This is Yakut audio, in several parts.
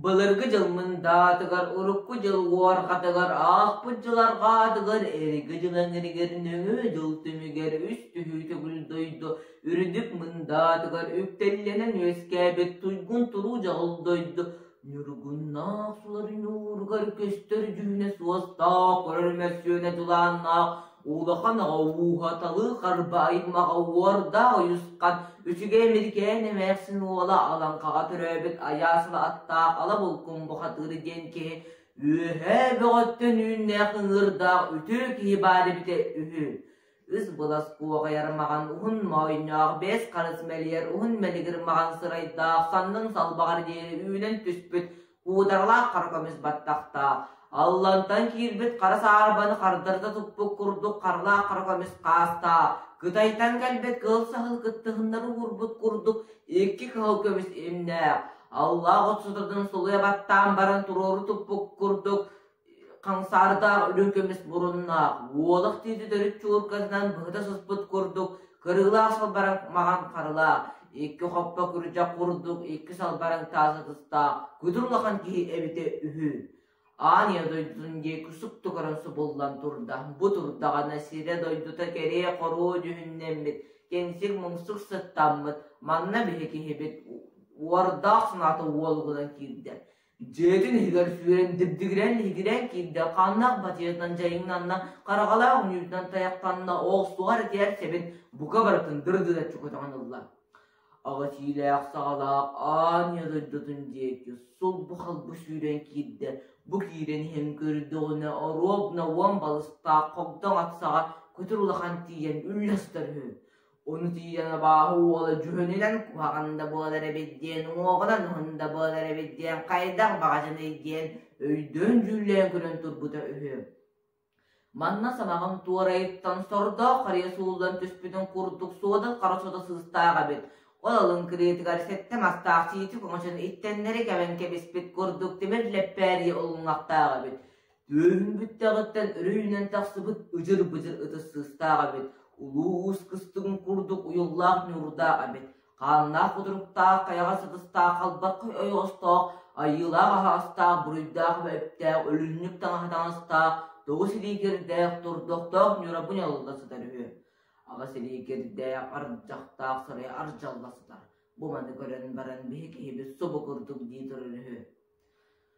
Былыргы дьыл Мындаатыгар урукку дьыл Уорҕатыгар аахпыт дьыларга аатыгар Эргэ дьыл эҥиригэр нөҥүө дьыл түмүгэр үс түһүү төгүл дойду үрдүк Мындаатыгар үктэллэнэн үөскээбит туйгун туруу дьаҕыл дойду ньургуннаах сулар ньууругар көстөр дьүһүнэ суостаах, көрөр мөссүөнэ дьулааннаах Улахан оҕо ууһаталыы харба аймаҕа уордаах ойусхан, үчүгэй Эмирикээн эмээхсин уола Алаҥхаҕа төрөөбүт Айаасова аттаах Алабулкум бухатыыр диэн киһи үөһээ бөҕөттөн үүннээх ыҥыырдаах үтүө киһи баар эбитэ үһү. Ыс былас куоҕайар маҕан уһун моойноох бэс харыс мэлийэр уһун мэлигир маҕан сырайдаах саннын салбаҕар диэри үүнэн түспүт куутаралаах хара көмүс баттахтаах, Аллантан киирбит хара саарбаны хардарыта туппут курдук харалаах хара көмүс хаастаах, Кытайтан кэлбит кыһыл саһыл кыттыһыннары уурбут курдук икки кыһыл көмүс имнээх, Аллах от сытатын сулуйа баттаан баран туруору туппут курдук Хамсаарытаах үрүҥ көмүс муруннаах Уолах тиити төрүт чууркатынан быһыта сыспыт курдук кырыылаах салбараҥ маҥан харылаах, икки хоппо күрдьэх курдук икки салбараҥ таас ытыстаах күдүр улахан киһи эбитэ үһү. Аан ийэ дойдутун диэки суптукарын субуллан турда. Бу турдаҕына сирэ-дойдута кэрие-хоруу дьүһүннэммит, кэнсик-муҥсук сыттаммыт, манна биһи киһибит уордаах санаата уолугунан киирдэ. Дьиэтин иһигэр сүүрэн дибдигирэн иһигирэн киирдэ, ханнах бачыытынан дьайыҥнанна, хараҕалаах үнүүтүнэн тайахтанна, оҕустугар этигэр сэбин бука барытын дырдыта чукутаҕын ылла. Аҕа сиилээх саҕалаах аанньа дойдутун диэки сулбу-халбы сүүрэн киирдэ. Бу киирэн иһэн көрдөҕүнэ оруобна уон балыстаах хогдоҥ атсаҕа көтүр улахан тиийэн үллэстэр үһү. Ону тиийэн абааһы уола дьүһүнүнэн куһаҕан да буолар эбит диэн, уҥуоҕунан уһун да буолар эбит диэн хайдах баҕажыный диэн өйдөөн дьүүллээн көрөн турбута үһү. Манна сamaҕым туорайыттан сордоох харыйа сууллан түспүтүн курдук суодат хара сото сыыстаах эбит. Ол алын кырыытыгар сэттэ мастаах сиичи көҥөчөн иттэннэри кэбэн кэбиспит курдук тимир лэппээрийэ олуҥахтаах эбит. Түөһүн бүттэҕиттэн өрүһүнэн тахсыбыт ыдьыр-быдьыр ытыс сыыстаах эбит, улуу уус кыстыгын курдук уйуллаах ньуурдаах эбит, хааннаах кутуруктаах, хайаҕас ытыстаах, халбаккай ойоҕостоох, айыылаах аһаастаах, буруйдаах эбэптээх, өлүнньүк таҥаһа таҥастаах, тоҕус илиикэрдээх, турдохтоох ньура бу ньалла сытар үһү. Аҕыс илиикэрдээх, ардьахтаах сарай ардьалла сытар. Бу маны көрөн баран биһи киһибит субу курдук дии турар үһү.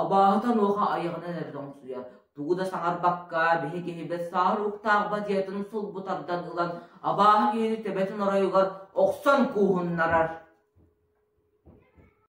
Абааһыта онуоха айаҕынан эрэ тоҥсуйар, тугу да саҥарбакка, биһи киһибит саар уктаах бадьыйатын сулбу тардан ылан, абааһы киһини төбөтүн оройугар охсон кууһуннарар